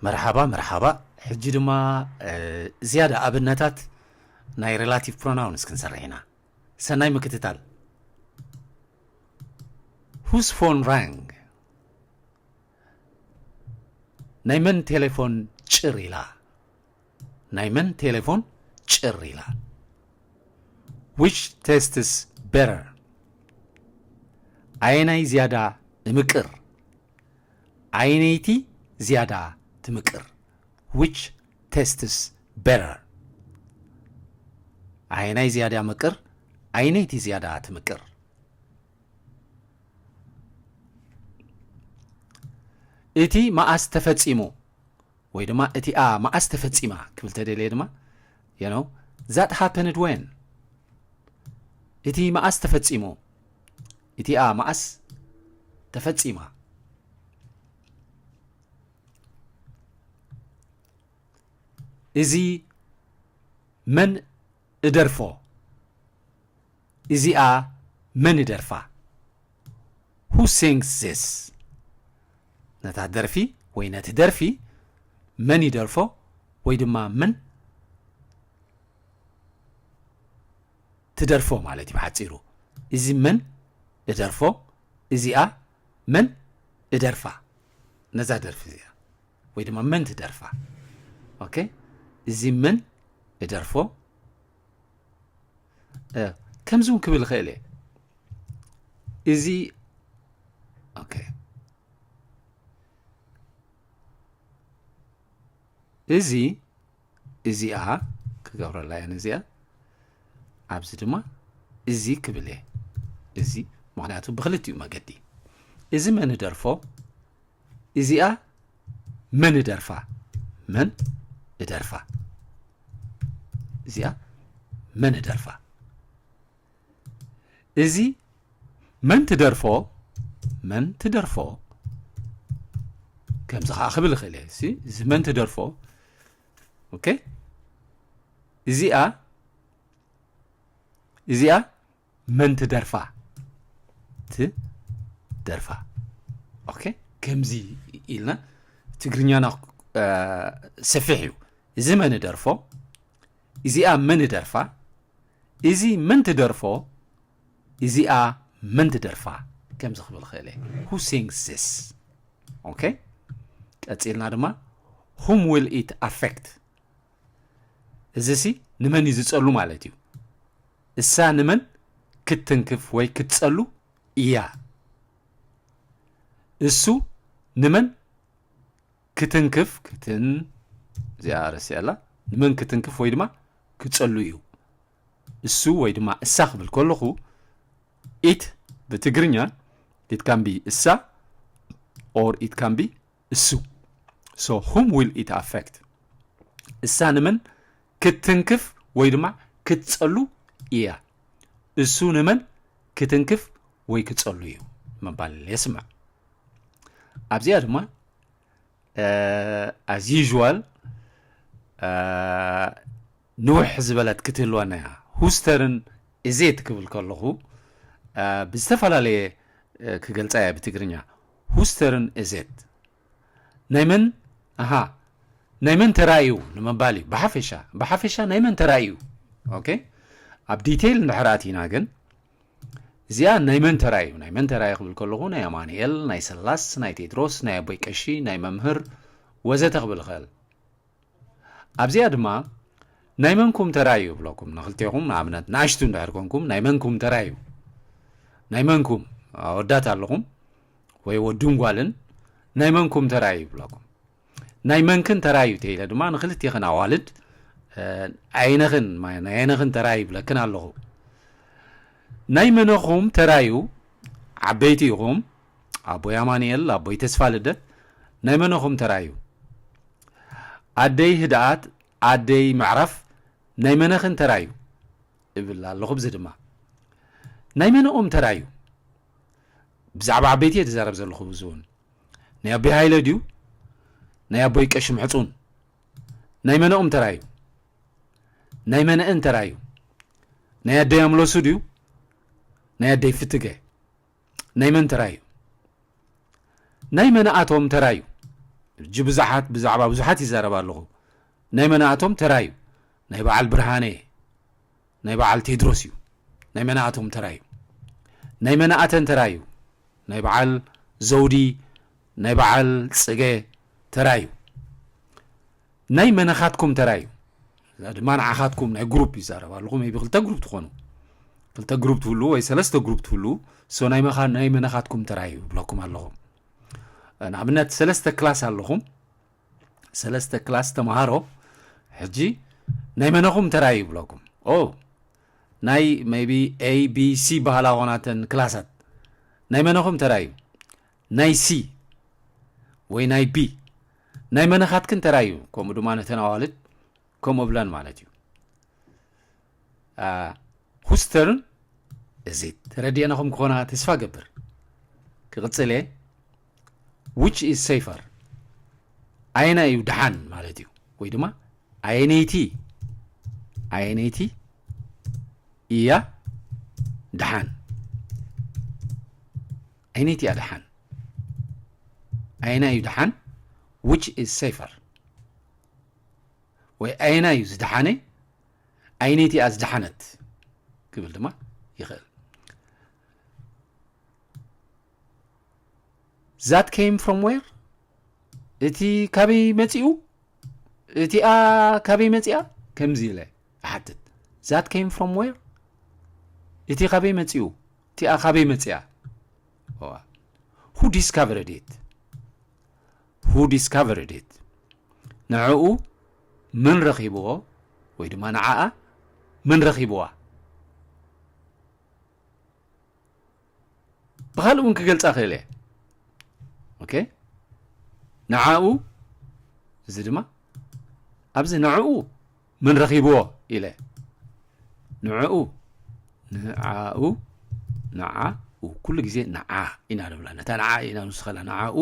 መርሓባ መርሓባ ሕጂ ድማ ዝያዳ ኣብነታት ናይ ሬላቲቭ ፕሮናውንስ ክንሰርሕ ኢና ሰናይ ምክትታል ሁስ ፎን ራንግ ናይ መን ቴሌፎን ጭር ኢላ ናይ መን ቴሌፎን ጭር ኢላ? ዊች ቴስትስ ቤተር ኣየናይ ዝያዳ እምቅር? ኣየነይቲ ዝያዳ ትምቅር? ዊች ቴስትስ ቤተር ኣየናይ ዝያዳ ምቅር? ኣየነይቲ ዝያዳ ትምቅር? እቲ መኣስ ተፈጺሙ? ወይ ድማ እቲኣ መዓስ ተፈጺማ ክብል ተደልየ ድማ you know that happened when እቲ መዓስ ተፈጺሙ እቲኣ መዓስ ተፈጺማ እዚ መን እደርፎ እዚኣ መን ይደርፋ Who sings this? ነታ ደርፊ ወይ ነቲ ደርፊ መን ይደርፎ ወይ ድማ መን ትደርፎ ማለት እዩ ብሓፂሩ እዚ መን እደርፎ እዚኣ መን እደርፋ ነዛ ደርፊ እዚኣ ወይ ድማ መን ትደርፋ ኦኬ እዚ መን እደርፎ ከምዚ እውን ክብል ይኽእል እየ እዚ ኦኬ እዚ እዚኣ ክገብረላ እየን እዚኣ ኣብዚ ድማ እዚ ክብል እየ እዚ ምክንያቱ ብክልቲኡ መገዲ እዚ መን ደርፎ እዚኣ መን እደርፋ መን እደርፋ እዚኣ መን እደርፋ እዚ መን ትደርፎ መን ትደርፎ ከምዚ ከዓ ክብል ይኽእል እየ እሲ እዚ መን ትደርፎ ኦኬ እዚኣ እዚኣ መን ትደርፋ ትደርፋ ኦኬ ከምዚ ኢልና ትግርኛና ሰፊሕ እዩ እዚ መን ደርፎ እዚኣ መን ደርፋ እዚ መን ትደርፎ እዚኣ መን ትደርፋ ከምዚ ክብል ክእል እየ ሁ ሲንግስ ዚስ ኦኬ ቀፂልና ድማ ሁም ዊል ኢት ኣፌክት እዚ ሲ ንመን እዩ ዝፀሉ ማለት እዩ እሳ ንመን ክትትንክፍ ወይ ክትጸሉ ኢያ? እሱ ንመን ክትንክፍ፣ ክትን፣ እዚኣ ረሲዐላ፣ ንመን ክትንክፍ ወይ ድማ ክጸሉ ኢዩ? እሱ ወይ ድማ እሳ ክብል ከለኹ ኢት ብትግርኛ ኢት ካን ቢ እሳ ኦር ኢት ካን ቢ እሱ፣ so whom will it affect፣ እሳ ንመን ክትትንክፍ ወይ ድማ ክትጸሉ ኢያ፣ እሱ ንመን ክትንክፍ ወይ ክጸሉ ኢዩ ምባል የስምዕ። ኣብዚኣ ድማ as usual ንውሕ ዝበለት ክትህልወና እያ። ሁስተርን እዜት ክብል ከለኹ ብዝተፈላለየ ክገልጻ እየ ብትግርኛ። ሁስተርን እዜት ናይ መን ኣሃ ናይ መን ተራ እዩ ንምባል እዩ ብሓፈሻ ብሓፈሻ ናይ መን ተራ እዩ ኦኬ ኣብ ዲቴይል እንድሕር ኣቲና ግን እዚኣ ናይ መን ተራ እዩ ናይ መን ተራ እዩ ክብል ከለኹ ናይ ኣማንኤል ናይ ሰላስ ናይ ቴድሮስ ናይ ኣቦይ ቀሺ ናይ መምህር ወዘተ ክብል ይኽእል ኣብዚኣ ድማ ናይ መንኩም ተራ እዩ እብለኩም ንክልቴኹም ንኣብነት ንኣሽቱ እንድሕር ኮንኩም ናይ መንኩም ተራ እዩ ናይ መንኩም ኣወዳት ኣለኹም ወይ ወዱን ጓልን ናይ መንኩም ተራ እዩ ይብለኩም ናይ መንክን ተራ እዩ ተኢለ ድማ ንክልቴኽን ኣዋልድ ዓይነኽን ናይ ዓይነኽን ተራ ይብለክን ኣለኹ ናይ መነኹም ተራ እዩ ዓበይቲ ኢኹም ኣቦይ ኣማንኤል ኣቦይ ተስፋ ልደት ናይ መነኹም ተራዩ ኣደይ ህድኣት ኣደይ ምዕራፍ ናይ መነኽን ተራዩ እብል ኣለኹ ብዚ ድማ ናይ መነኦም ተራዩ ብዛዕባ ዓበይቲ እየ ዝዛረብ ዘለኹ እዚ እውን ናይ ኣቦይ ሃይለ ድዩ ናይ ኣቦይ ቀሺ ምሕፁን ናይ መነኦም ተራ እዩ ናይ መነእን ተራ እዩ ናይ ኣደይ ኣምለሱ ድዩ ናይ ኣደይ ፍትገ ናይ መን ተራ እዩ? ናይ መናእቶም ተራ እዩ። እጅ ብዙሓት ብዛዕባ ብዙሓት ይዛረብ ኣለኹ ናይ መናእቶም ተራ እዩ። ናይ በዓል ብርሃነ ናይ በዓል ቴድሮስ እዩ። ናይ መናእቶም ተራ እዩ። ናይ መናእተን ተራ እዩ። ናይ በዓል ዘውዲ ናይ በዓል ጽገ ተራ እዩ። ናይ መነኻትኩም ተራ እዩ እዛ ድማ ንዓኻትኩም ናይ ግሩፕ ይዛረብ ኣለኹ ሜቢ ክልተ ግሩፕ ትኾኑ ክልተ ግሩፕ ትህሉ ወይ ሰለስተ ግሩፕ ትህሉ ሶ ናይ መኻ ናይ መነኻትኩም ተራ እዩ ብለኩም ኣለኹ ንኣብነት ሰለስተ ክላስ ኣለኹም ሰለስተ ክላስ ተምሃሮ ሕጂ ናይ መነኹም ተራ እዩ ብለኩም ኦ ናይ ሜቢ ኤ ቢ ሲ በሃላ ኮናተን ክላሳት ናይ መነኹም ተራ እዩ ናይ ሲ ወይ ናይ ቢ ናይ መነኻትክን ተራ እዩ ከምኡ ድማ ነተን ኣዋልድ ከምኡ ብለን ማለት እዩ ሁስተርን እዚ ተረዲአናኹም ክኾና ተስፋ ገብር ክቕፅል እየ ዊች ኢዝ ሰይፈር ኣየና እዩ ድሓን ማለት እዩ ወይ ድማ ኣየነይቲ ኣየነይቲ እያ ድሓን ኣይነይቲ እያ ደሓን ኣየናይ እዩ ደሓን ዊች ኢዝ ሴፈር ወይ ኣየናይ እዩ ዝደሓነ ኣይነይቲ እያ ዝደሓነት ክብል ድማ ይኽእል ዛት ኬም ፍሮም ዌር እቲ ካበይ መፂኡ እቲኣ ካበይ መፂኣ ከምዚ ኢለ እሓትት ዛት ኬም ፍሮም ዌር እቲ ካበይ መፂኡ እቲኣ ካበይ መጺኣ? እዋ who discovered it? who discovered it? ንዕኡ መን ረኺብዎ ወይ ድማ ንዓኣ መን ረኺብዋ? ብኻልእ እውን ክገልጻ ክእል እየ ኦኬ ንዓኡ እዚ ድማ ኣብዚ ንዕኡ መን ረኺብዎ ኢለ ንዕኡ ንዓኡ ንዓ ኩሉ ግዜ ንዓ ኢና ንብላ ነታ ንዓ ኢና ንውስኸላ ንዓኡ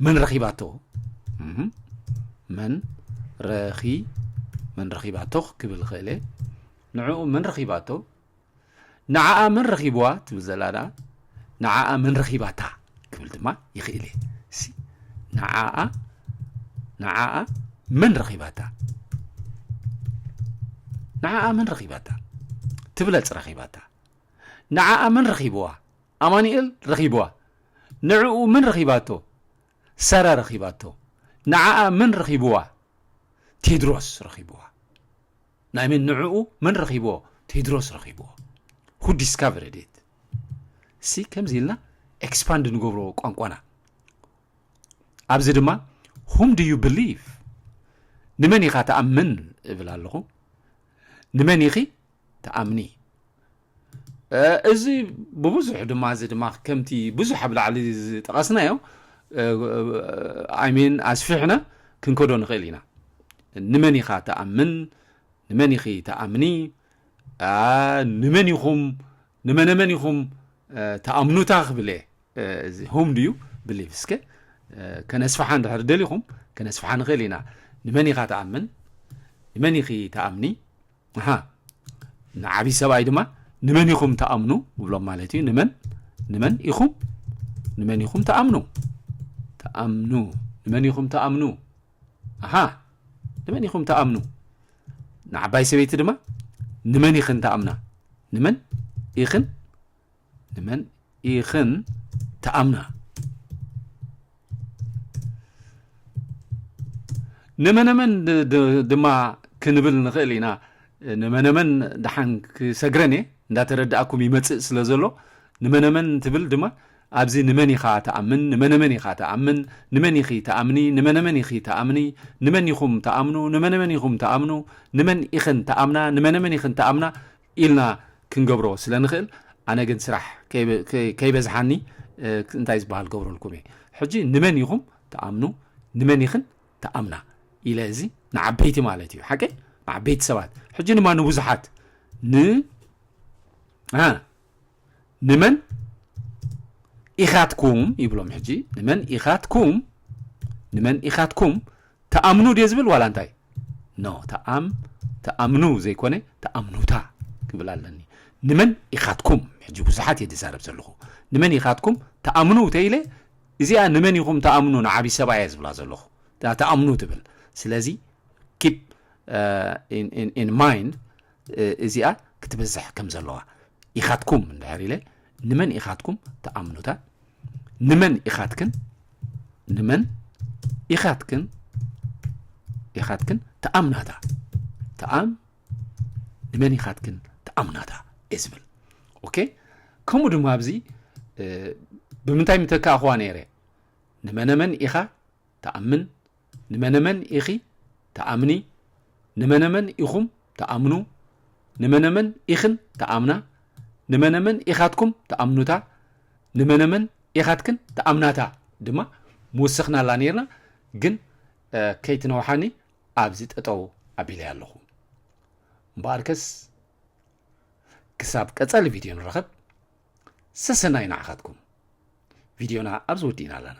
መን ረኺባቶ መን ረኺ መን ረኺባቶ ክብል ኽእለ ንዕኡ መን ረኺባቶ ንዓኣ መን ረኺብዋ ትብል ዘላ ደኣ ንዓኣ መን ረኺባታ ክብል ድማ ይኽእል እየ እሲ ንዓኣ ንዓኣ መን ረኺባታ ንዓኣ መን ረኺባታ ትብለጽ ረኺባታ ንዓኣ መን ረኺብዋ ኣማኒኤል ረኺብዋ ንዕኡ መን ረኺባቶ ሰረ ረኺባቶ ንዓኣ መን ረኺብዋ ቴድሮስ ረኺብዋ ናይ መን ንዕኡ መን ረኺብዎ ቴድሮስ ረኺብዎ who discovered it እሲ ከምዚ ኢልና ኤክስፓንድ ንገብሮ ቋንቋና ኣብዚ ድማ whom do you believe ንመን ኢኻ ትኣምን እብል ኣለኹ ንመን ኢኺ ትኣምኒ እዚ ብብዙሕ ድማ እዚ ድማ ከምቲ ብዙሕ ኣብ ላዕሊ ዝጠቐስናዮ ኣይሜን ኣስፊሕና ክንከዶ ንኽእል ኢና ንመን ኢኻ ተኣምን ንመን ኢኺ ተኣምኒ ንመን ኢኹም ንመነመን ኢኹም ተኣምኑታ ክብለ እዚ ሆም ድዩ ብሊቭ እስከ ከነስፍሓ እንድሕር ደሊኹም ከነስፍሓ ንኽእል ኢና ንመን ኢኻ ተኣምን ንመን ኢኺ ተኣምኒ ኣሃ ንዓቢ ሰብኣይ ድማ ንመን ኢኹም ትኣምኑ እብሎም ማለት እዩ ንመን ንመን ኢኹም ንመን ኢኹም ትኣምኑ ትኣምኑ ንመን ኢኹም ትኣምኑ ኣሃ ንመን ኢኹም ትኣምኑ ንዓባይ ሰበይቲ ድማ ንመን ኢኽን ትኣምና ንመን ኢኽን ንመን ኢኽን ተኣምና ንመነመን ድማ ክንብል ንኽእል ኢና ንመነመን ደሓን ክሰግረን እየ እንዳተረዳእኩም ይመፅእ ስለ ዘሎ ንመነመን ትብል ድማ ኣብዚ ንመን ኢኻ ተኣምን ንመነመን ኢኻ ተኣምን ንመን ኢኺ ተኣምኒ ንመነመን ኢኺ ተኣምኒ ንመን ኢኹም ተኣምኑ ንመነመን ኢኹም ተኣምኑ ንመን ኢኽን ተኣምና ንመነመን ኢኽን ተኣምና ኢልና ክንገብሮ ስለ ንኽእል ኣነ ግን ስራሕ ከይበዝሓኒ እንታይ ዝበሃል ገብረልኩም እየ ሕጂ ንመን ኢኹም ትኣምኑ ንመን ኢኽን ትኣምና ኢለ እዚ ንዓበይቲ ማለት እዩ ሓቀይ ንዓበይቲ ሰባት ሕጂ ድማ ንብዙሓት ን ንመን ኢኻትኩም ይብሎም ሕጂ ንመን ኢኻትኩም ንመን ኢኻትኩም ተኣምኑ ድየ ዝብል ዋላ እንታይ ኖ ተኣም ተኣምኑ ዘይኮነ ተኣምኑታ ክብል ኣለኒ ንመን ኢኻትኩም ሕጂ ብዙሓት እየ ዝዛረብ ዘለኹ ንመን ኢኻትኩም ተኣምኑ ተኢለ እዚኣ ንመን ኢኹም ተኣምኑ ንዓብዪ ሰባ እየ ዝብላ ዘለኹ ተኣምኑ ትብል ስለዚ ኪፕ ኢን ማይንድ እዚኣ ክትበዝሕ ከም ዘለዋ ኢኻትኩም እንድሕር ኢለ ንመን ኢኻትኩም ተኣምኑታ ንመን ኢኻትክን ንመን ኢኻትክን ኢኻትክን ተኣምናታ ተኣም ንመን ኢኻትክን ተኣምናታ እየ ዝብል ኦኬ ከምኡ ድማ ኣብዚ ብምንታይ ምተካእኹዋ ነይረ ንመነመን ኢኻ ትኣምን? ንመነመን ኢኺ ትኣምኒ? ንመነመን ኢኹም ትኣምኑ? ንመነመን ኢኽን ትኣምና? ንመነመን ኢኻትኩም ትኣምኑታ? ንመነመን ኢኻትክን ትኣምናታ? ድማ ምውስኽናላ ነይርና፣ ግን ከይትነውሓኒ ኣብዚ ጠጠው ኣቢለያ ኣለኹ። እምበኣርከስ ክሳብ ቀጻሊ ቪድዮ ንረኸብ፣ ሰሰናይ ንዓኻትኩም። ቪድዮና ኣብዚ ወዲእና ኣለና።